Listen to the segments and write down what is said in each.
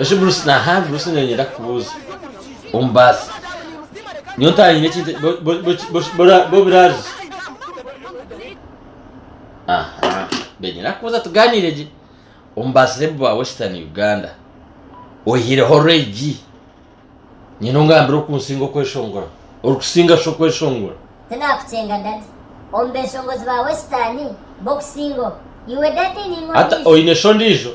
Eki Bruce naha Bruce nenyenda kukubuuza omu baasi niyo ntanyine ekintu bobirazi aha benyenda kukubuuza tuganire gye omu basirebu ba western uganda oyihireho regi nyine ongambire okunsinga okweshongora orikusinga shi okweshongora tinakukyenga dadi omu beshongozi ba western bokusinga iwe dadi ningwe oine shi ondiijo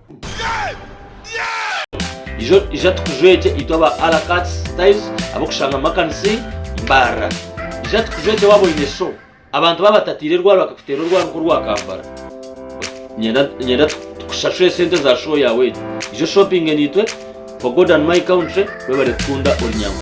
Ijo ija tukujwegye itwe aba Alakatz Styles ab'okushanga mu makanisa mbarra. Ija tukujwegye waaba oine show, abantu baaba batataire rwaari bakakuteera orwaari nk'orwa kampara. Niinyenda niinyenda tukusashure sente za show yaawe egyo. Ija oshompinge naitwe for God and my country. Webale kukunda ori Nyankole.